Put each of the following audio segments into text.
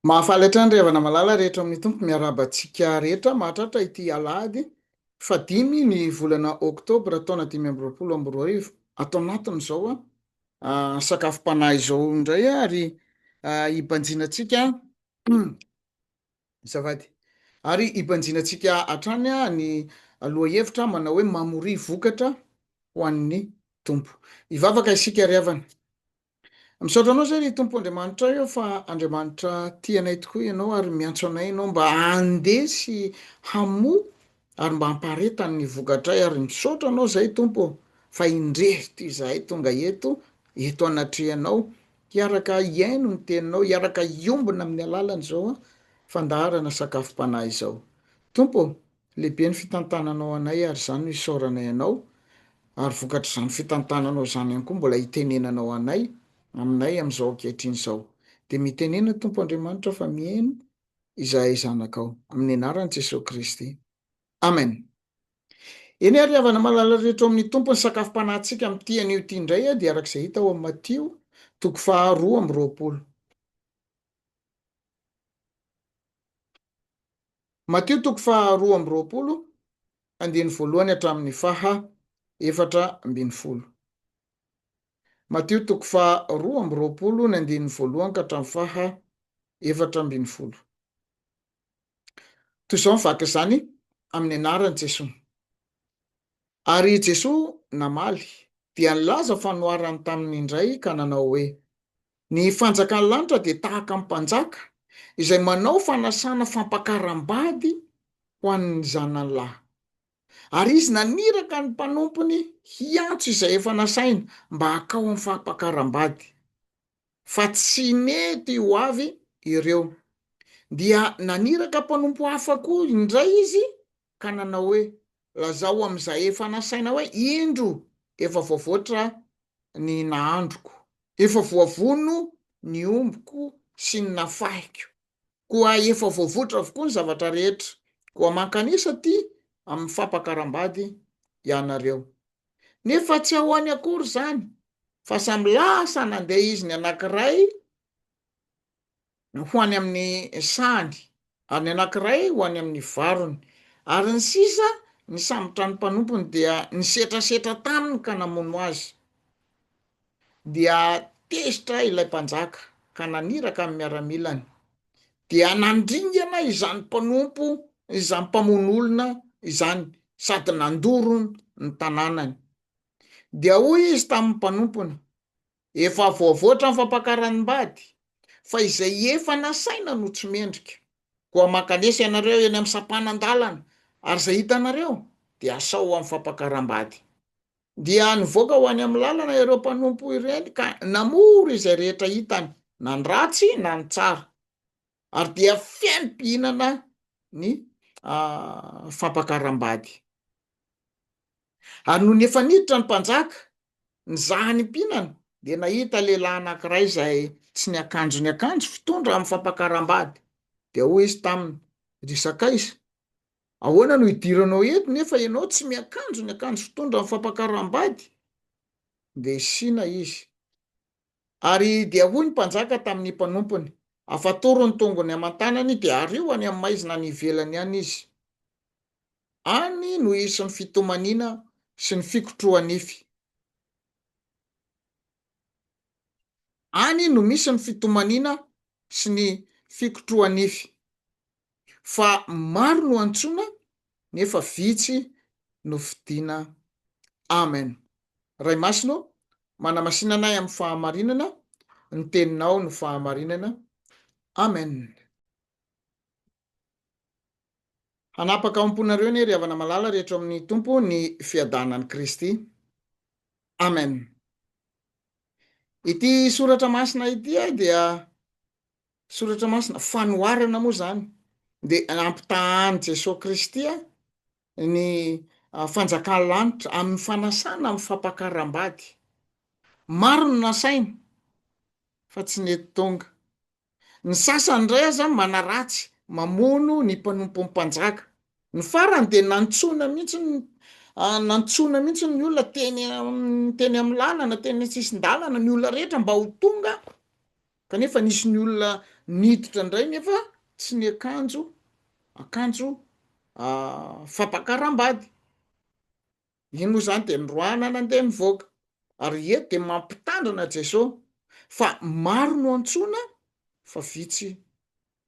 Mahafaly hatrany ry havana malala rehetra ao amin'ny Tompo, miarahaba antsika rehetra mahatratra ity alahady faha dimy ny volana oktobra taona dimy amby roapolo amby roa arivo ato anatin'izao sakafom-panahy izao indray ary hibanjinantsika Azafady. Ary hibanjinantsika hatrany ny lohahevitra manao hoe mamoria vokatra ho an'ny Tompo. Hivavaka isika ry havana. Misaotra Anao izay ry Tompo Andriamanitra aho fa Andriamanitra tia anay tokoa Ianao ary miantso anay Ianao mba handeha sy hamoa ary mba hampaharetany ny vokatray ary misaotra Anao izay Tompo fa indrery toy izahay tonga eto, eto anatrehanao Hiaraka hihaino ny Teninao, hiaraka hiombona amin'ny alalan'izao fandaharana Sakafom-panahy izao. Tompo ô, lehibe ny fitantananao anay ary izany no isaoranay Anao, ary vokatr'izany fitantananao izany ihany koa mbola hitenenanao anay, aminay amin'izao ankehitriny izao. Dia mitenena Tompo Andriamanitra fa mihaino izahay zanakao. Amin'ny anaran'i Jesoa Kristy. Amen. Eny ary havana malala rehetra ao amin'ny Tompo, ny sakafom-panahintsika amin'ity anio ity indray dia araka izay hita ao amin'ny Matio toko faha roa amby roapolo. Matio toko faha roa amby roapolo, andininy voalohany hatramin'ny faha efatra ambin'ny folo. Matio toko faha roa amby roapolo, ny andininy voalohany ka hatramin'ny faha efatra ambin'ny folo. Toy izao ny vaky izany amin'ny anaran'i Jesoa. Ary i Jesoa namaly, dia nilaza fanoharany taminy indray ka nanao hoe, Ny fanjakan'ny lanitra dia tahaka ny mpanjaka izay manao fanasana fampakaram-bady ho an'ny zanany lahy. Ary izy naniraka ny mpanompony hiantso izay efa nasaina mba hakao amin'ny fampakaram-bady. fa tsy nety ho avy ireo. Dia naniraka mpanompo hafa koa indray izy ka nanao hoe, Lazao amin'izay efa nasaina hoe, Indro, efa voavoatra ny nahandroko. Efa voavono ny ombiko sy ny nafahiko. Koa efa voavoatra avokoa ny zavatra rehetra. Koa mankanesa aty amin'ny fampakaram-bady ianareo. nefa tsy ahoany akory izany fa samy lasa nandeha izy ny anankiray ho any amin'ny sahany ary ny anankiray ho any amin'ny varony ary ny sisa ny sambotran'ny mpanompony dia nisetrasetra taminy ka namono azy Dia tezitra ilay mpanjaka ka naniraka ny miaramilany, dia nandringana izany mpanompo izany mpamono olona izany sady nandoro ny tanànany. Dia hoy izy tamin'ny mpanompony, Efa voavoatra ny fampakaram-bady, fa izay efa nasaina no tsy mendrika. Koa mankanesa ianareo eny amin'ny sampanan-dalana, ary izay hitanareo dia asao ho amin'ny fampakaram-bady. Dia nivoaka ho any amin'ny lalana ireo mpanompo ireny ka namory izay rehetra hitany, na ny ratsy na ny tsara, ary dia feno mpihinana ny fampakaram-bady. Ary nony efa niditra ny mpanjaka, nizaha ny mpihinana, dia nahita lehilahy anankiray izay tsy niakanjo niakanjo fitondra amin'ny fampakaram-bady, dia hoy izy taminy, Ry Sakaiza, Ahoana no idiranao eto nefa ianao tsy miakanjo ny akanjo fitondran'ny fampakaram-bady? Dia isiana izy. Ary dia hoy ny mpanjaka tamin'ny mpanompony, Afatory ny tongony aman-tanany dia ario any amin'ny maizina any ivelany any izy. Any no hisy ny fitomaniana sy ny fikotroha-nify. Any no misy ny fitomaniana sy ny fikotroha-nify. fa maro no antsoina nefa vitsy no fidiana Amen Ray masina ô manamasina anay amin'ny fahamarinana ny teninao no fahamarinana Amen Hanapaka ao am-ponareo anie ry havana malala ry eto amin'ny Tompo ny fiadanan'i Kristy Amen Ity soratra masina ity dia Soratra masina fanoharana moa izany dia ampitahan'i Jesoa Kristy ny fanjakan'ny lanitra amin'ny fanasana amin'ny fampakaram-bady. Maro no nasaina fa tsy nety tonga. Ny sasany indray aza manaratsy, mamono ny mpanompon'ny mpanjaka. Ny farany dia nantsoina mihitsy ny nantsoina mihitsy ny olona teny teny amin'ny lalana, teny an-tsisin-dalana ny olona rehetra mba ho tonga Kanefa nisy ny olona niditra indray nefa tsy niakanjo akanjo fampakaram-bady. Iny moa izany dia niroahana nandeha nivoaka. Ary eto dia mampitandrina Jesoa fa maro no antsoina fa vitsy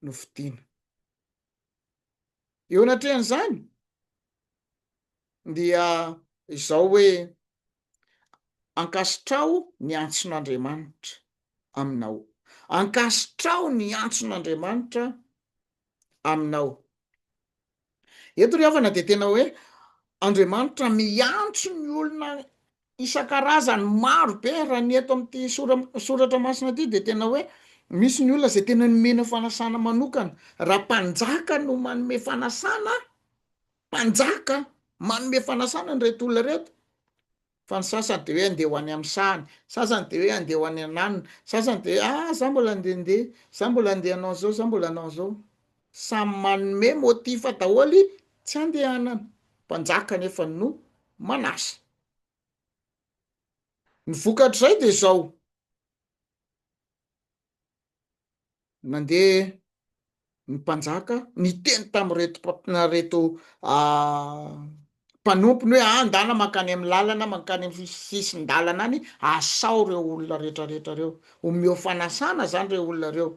no fidiana. Eo anatrehan'izany dia izao hoe, Ankasitraho ny antson'Andriamanitra aminao. Ankasitraho ny antson'Andriamanitra aminao. Eto ry havana dia tena hoe Andriamanitra miantso ny olona isan-karazany maro be raha ny eto amin'ity soratra masina ity dia tena hoe misy ny olona izay tena nomena fanasana manokana raha mpanjaka no manome fanasana mpanjaka manome fanasana an'ireto olona ireto fa ny sasany dia hoe andeha ho any amin'ny sahany sasany dia hoe andeha ho any ananona sasany dia hoe ah za mbola andehandeha za mbola andeha hanao an'izao za mbola hanao an'izao Samy manome motif daholo tsy andehanana. Mpanjaka nefa no manasa. Ny vokatr'izay dia izao. Nandeha ny mpanjaka niteny tamin'ireto mpanompo ny hoe ah ndana mankany amin'ny lalana mankany amin'ny sisin-dalana any asao ireo olona rehetra rehetra ireo omeo fanasana izany ireo olona ireo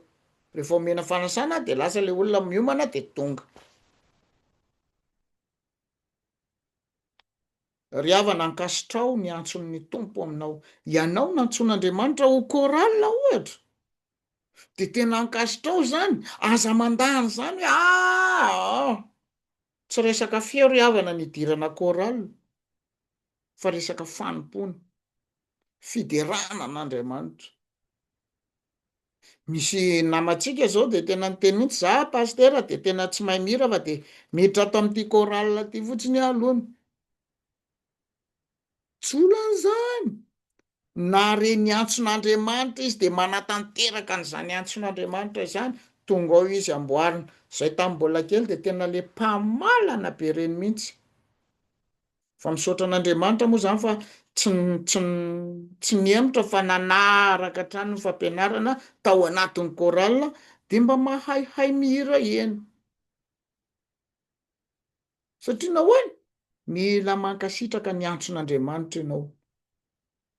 rehefa omena fanasana dia lasa ilay olona miomana dia tonga ry havana ankasitraho ny antson'ny tompo aminao ianao nantsoin'andriamanitra ho chorale ohatra dia tena ankasitraho izany aza mandany izany hoe ah, ah. Tsy resaka feo ry havana ny hidirana chorale fa resaka fanompoana, fiderana an'Andriamanitra. Misy namantsika zao de tena niteny mihitsy za pasitera de tena tsy mahay mihira fa de miditra ato amin'ity chorale ity fotsiny aho aloha. Tsy olana izany. Na re ny antson'Andriamanitra izy dia manatanteraka an'izany antson'Andriamanitra izany, tonga ao izy amboarina. Izay tamin'ny mbola kely dia tena le mpamalana be reny mihitsy. Fa misaotra an'Andriamanitra moa izany fa tsy tsy tsy nihemotra fa nanaraka hatrany ny fampianarana tao anatin'ny chorale dia mba mahaihay mihira eny. Satria nahoana? Mila mankasitraka ny antson'Andriamanitra ianao.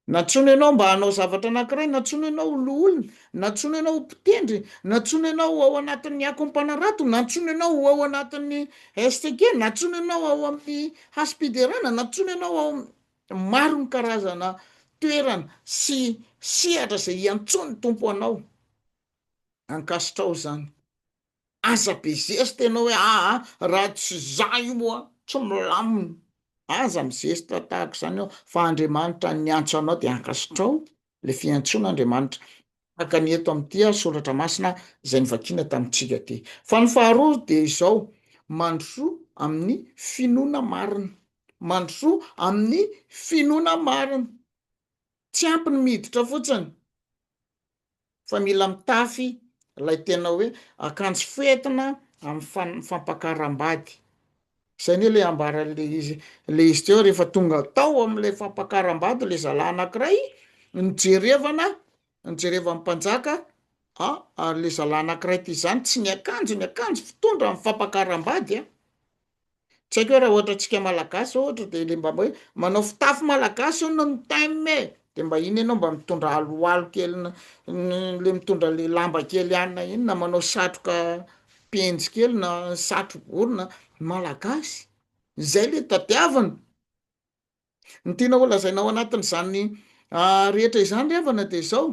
Nantsoina ianao mba hanao zavatra anankiray, nantsoina ianao ho loholona, nantsoina ianao ho mpitendry, nantsoina ianao ho ao anatin'ny akom-panarato, nantsoina ianao ho ao anatin'ny STK, nantsoina ianao ao amin'ny hasim-piderana, nantsoina ianao ao maro ny karazana toerana sy sehatra izay iantsoan'ny Tompo anao. Ankasitraho izany. Aza be zesta ianao hoe aa raha tsy za io moa tsy milamina, aza mizesta tahaka izany ianao fa Andriamanitra niantso anao dia ankasitraho le fiantsoana Andriamanitra tahaka ny eto amin'ity ary soratra masina izay novakiana tamintsika ty. Fa ny faharoa dia izao, mandrosoa amin'ny finoana marina, mandrosoa amin'ny finoana marina. Tsy ampy ny miditra fotsiny fa mila mitafy ilay tena hoe akanjo fentina amin'ny fampakaram-bady. Izay anie ilay ambaran'ilay izy ilay izy teo rehefa tonga tao amin'ilay fampakaram-bady ilay zalahy anankiray nojerevana nojerevan'ny mpanjaka a ary ilay zalahy anankiray ity izany tsy niakanjo niakanjo fitondra amin'ny fampakaram-bady a. Tsy haiko hoe raha ohatra antsika malagasy ohatra dia le mba hoe manao fitafy malagasy hono ny thème e, dia mba iny ianao mba mitondra aloalo kely le mitondra le lamba kely anona iny na manao satroka penjy kely na satro bory na malagasy, zay le tadiavina. Ny tianao holazaina ao anatin'izany rehetra izany ry havana dia izao,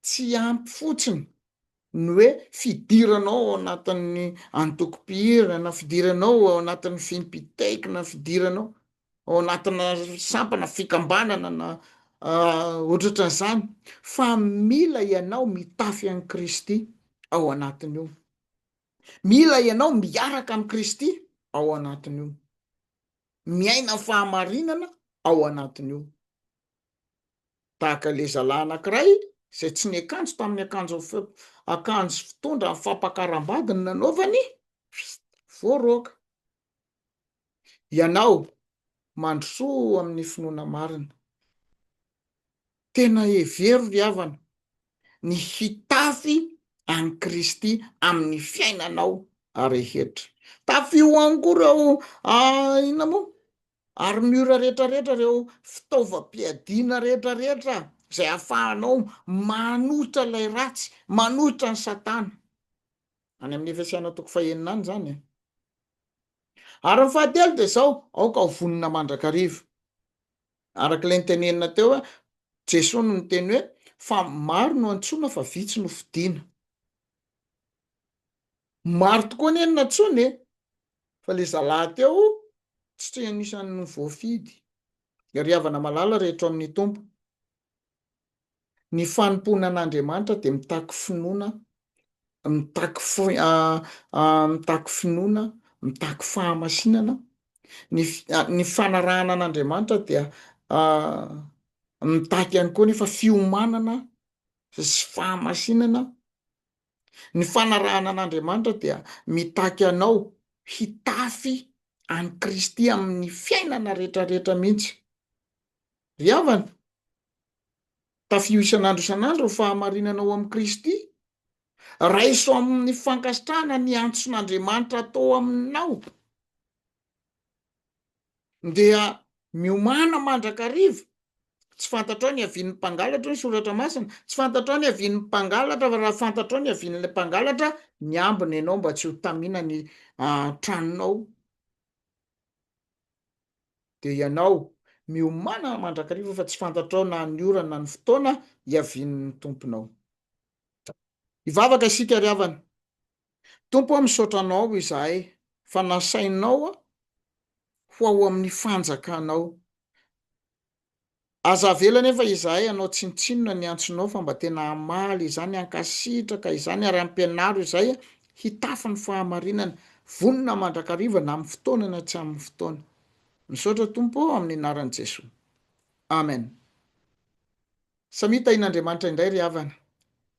tsy ampy fotsiny ny hoe fidiranao ao anatin'ny antokom-pihirana, fidiranao ao anatin'ny fimpitaikina, fidiranao ao anatina sampana fikambanana na ohatratran'izany fa mila ianao mitafy an'i Kristy ao anatin'io, mila ianao miaraka amin'i Kristy ao anatin'io. miaina ny fahamarinana ao anatiny eo. Tahaka ilay zalahy anankiray izay tsy niakanjo tamin'ny akanjo akanjo fitondra fampakaram-bady ny nanaovany, voaroaka. Ianao mandrosoa amin'ny finoana marina. Tena hevero ry havana ny hitafy an'i Kristy amin'ny fiainanao rehetra. Tafio any koa ireo inona moa? Armure rehetra rehetra, ireo fitaovam-piadiana rehetra rehetra izay ahafahanao manohitra ilay ratsy, manohitra an'i Satana. Any amin'ny Efesiana toko fahenina any izany e. Ary ny fahatelo dia izao, aoka ho vonona mandrakariva. Araka ilay nitenenina teo hoe Jesoa no niteny hoe fa maro no antsoina fa vitsy no fidiana. Maro tokoa anie no natsoina e, fa le zalahy teo tsy anisan'ny voafidy. Ry havana malala rehetra ao amin'ny Tompo. Ny fanompoana an'Andriamanitra dia mitaky finoana, mitaky mitaky finoana, mitaky fahamasinana. Ny ny fanarahana an'Andriamanitra dia mitaky ihany koa nefa fiomanana sy fahamasinana. Ny fanarahana an'Andriamanitra dia mitaky anao hitafy an'i Kristy amin'ny fiainana retraretra mihitsy. Ry havana, tafio isan'andro isan'andro ny fahamarinana ao amin'i Kristy. Raiso amin'ny fankasitrahana ny antson'Andriamanitra atao aminao, dia miomàna mandrakariva. Tsy fantatrao ny havian'ny mpangalatra, hoy ny Soratra Masina, tsy fantatrao ny havian'ny mpangalatra, fa raha fantatrao ny havian'ilay mpangalatra, miambina ianao mba tsy ho tamina ny tranonao. dia ianao, miomanana mandrakariva fa tsy fantatrao na ny ora na ny fotoana hiavian'ny Tomponao. Hivavaka isika ry havana. Tompo ô, misaotra Anao izahay fa nasainao ho ao amin'ny fanjakanao. Aza avela anefa izahay hanao tsinontsinona ny antsonao fa mba tena hamaly izany hankasitraka izany ary hampianaro izay hitafy ny fahamarinana, vonona mandrakariva na amin'ny fotoana na tsy amin'ny fotoana. Misaotra Tompo ô amin'ny anaran'i Jesoa. Amen. Samia tahin'Andriamanitra indray ry havana.